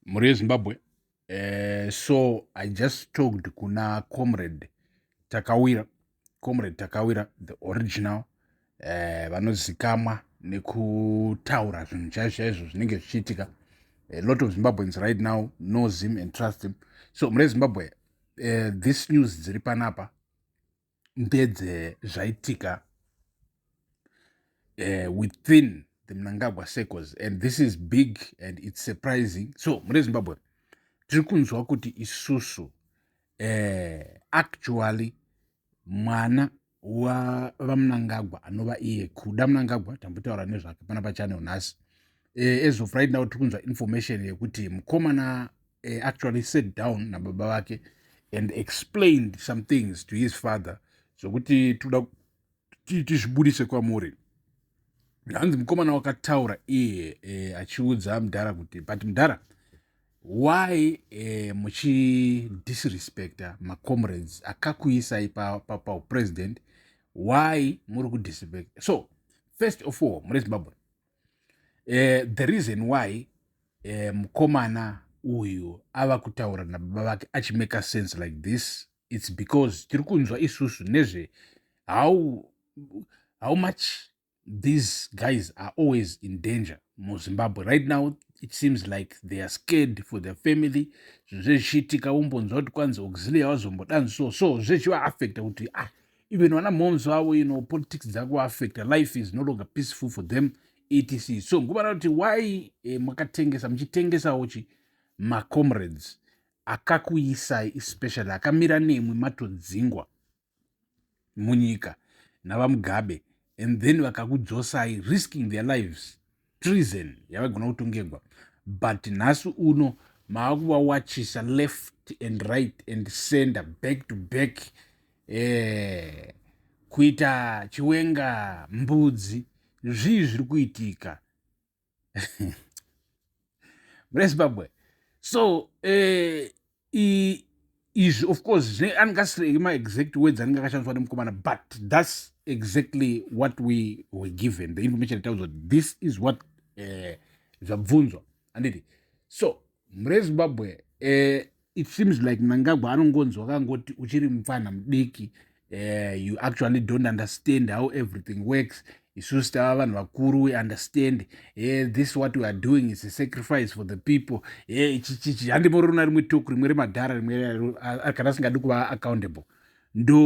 mhuri yezimbabwe uh, so i just talked kuna comrade takawira comrade takawira the original uh, vanozikamwa nekutaura zvinhu chaizvo chaizvo zvinenge zvichiitika a lot of zimbabweans right now knows him and trust him so mhuri yezimbabwe uh, this news dziri panapa ndedze zvaitika uh, within the mnangagwa circles and this is big and it's surprising so mune zimbabwe tiri kunzwa kuti isusu uh, actually mwana wavamnangagwa anova iye kuda mnangagwa tambotaura nezvake pana pachanel nhasi uh, as of right now tiri kunzwa information yekuti mukomana uh, actually sat down nababa vake and explained some things to his father zvokuti toda tizvibudise kwamuri hanzi mukomana wakataura iye eh, achiudza mudhara kuti but mudhara why eh, muchidisrespecta macomrades akakuisai paupresident pa, pa why muri kudisrespecta so first of all mune zimbabwe eh, the reason why eh, mukomana uyu ava kutaura nababa vake achimake sense like this its because tiri kunzwa isusu nezve how, how much these guys are always in danger muzimbabwe right now it seems like they are scared for their family zvinhu zvezvichiitika wombonzwa kuti kwanzi auxilia wazombodanzi so so zvechivaafecta kuti ah even vana momz vavo you know politics dzakuaffecta life is no longer peaceful for them etc so nguva ranoti why eh, makatengesa muchitengesawo chi macomrades akakuisai especially akamira nemwi matodzingwa munyika navamugabe and then vakakudzosai risking their lives treason yavaigona kutongegwa but nhasi uno maakuvawachisa left and right and sender back to back eh, kuita chiwenga mbudzi zvii zviri kuitika murezimbabwe so eh, izvi of course zvine anenge asiri maexact words anenge akashandiswa nemukomana but thats exactly what we were given the information ataudzwa kuti this is what eh, zvabvunzwa anditi so murezimbabwe eh, it seems like mnangagwa anongonzwa kangoti uchiri mupfanha mudiki uh, you actually don't understand how everything works isusu tava vanhu vakuru we understand e this what we are doing is a sacrifice for the people e chichichi handimorona rimwe toku rimwe remadhara rimwe kana asingadi kuva accountable ndo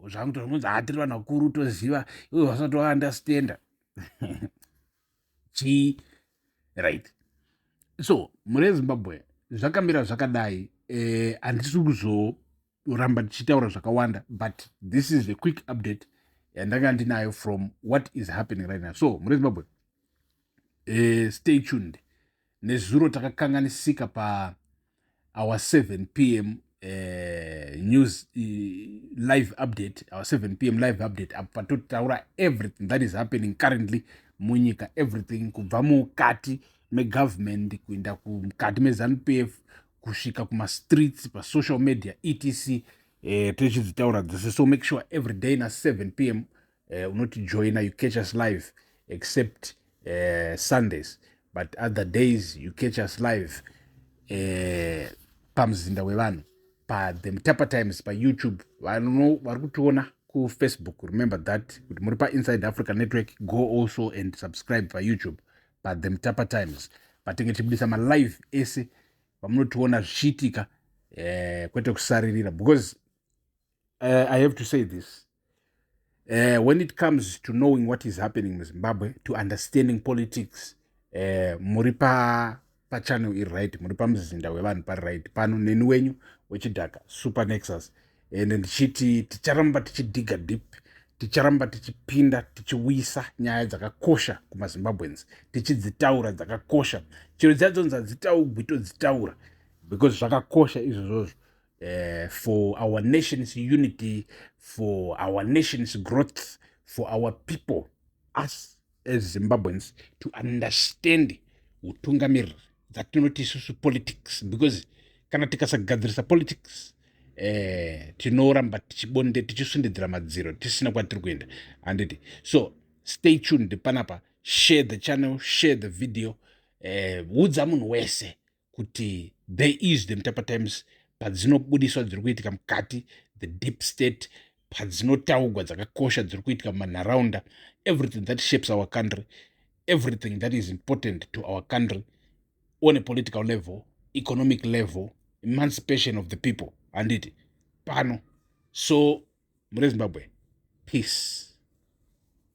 zvangu tozonzi hatiri vanhu vakuru toziva ivo vasati vaunderstanda chii right so mure zimbabwe zvakamira zvakadai eh, handisi kuzo ndichiramba ndichitaura zvakawanda but this is the quick update yandanga ndinayo from what is happening right now so muri zimbabwe uh, stay tuned nezuro takakanganisika pa our 7 p m uh, news uh, live update our 7 p m live update apa totaura everything that is happening currently munyika everything kubva mukati megovernment kuenda kumukati mezanu p f kusvika kumastreets pasocial media etc e, eh, tichidzitaura dzese so make sure every day na 7 p m eh, unotijoina you catch us live except uh, sundays but other days you catch us live uh, pamuzinda wevanhu pathe mutapa times payoutube vanhu vari kutiona kufacebook remember that kuti muri painsideafrica network go also and subscribe payoutube paThe Mtapa Times patinge tichibudisa malive ese vamunotiona zvichiitika eh, kwete kusaririra because uh, i have to say this uh, when it comes to knowing what is happening muzimbabwe to understanding politics uh, muri pa pachannel iri right muri pamuzinda wevanhu pari right pano neni wenyu wechidhaka supernexus ende ndichiti ticharamba tichidhiga deep ticharamba tichipinda tichiuyisa nyaya dzakakosha kumazimbabweans tichidzitaura dzakakosha chero dziya dzonzi hadzitaugwi todzitaura because zvakakosha izvozvozvo uh, for our nation's unity for our nation's growth for our people us as zimbabweans to understand utungamiriri dzatinoti isusu politics because kana tikasagadzirisa politics eh, tinoramba tichibonde tichisundidzira madziro tisina kwatiri kuenda handiti so stay tuned panapa share the channel share the video eh, udza munhu wese kuti the is the mutapa times padzinobudiswa dziri kuitika mukati the deep state padzinotaugwa dzakakosha dziri kuitika mumanharaunda everything that shapes our country everything that is important to our country on a political level economic level emancipation of the people handiti pano so murezimbabwe peace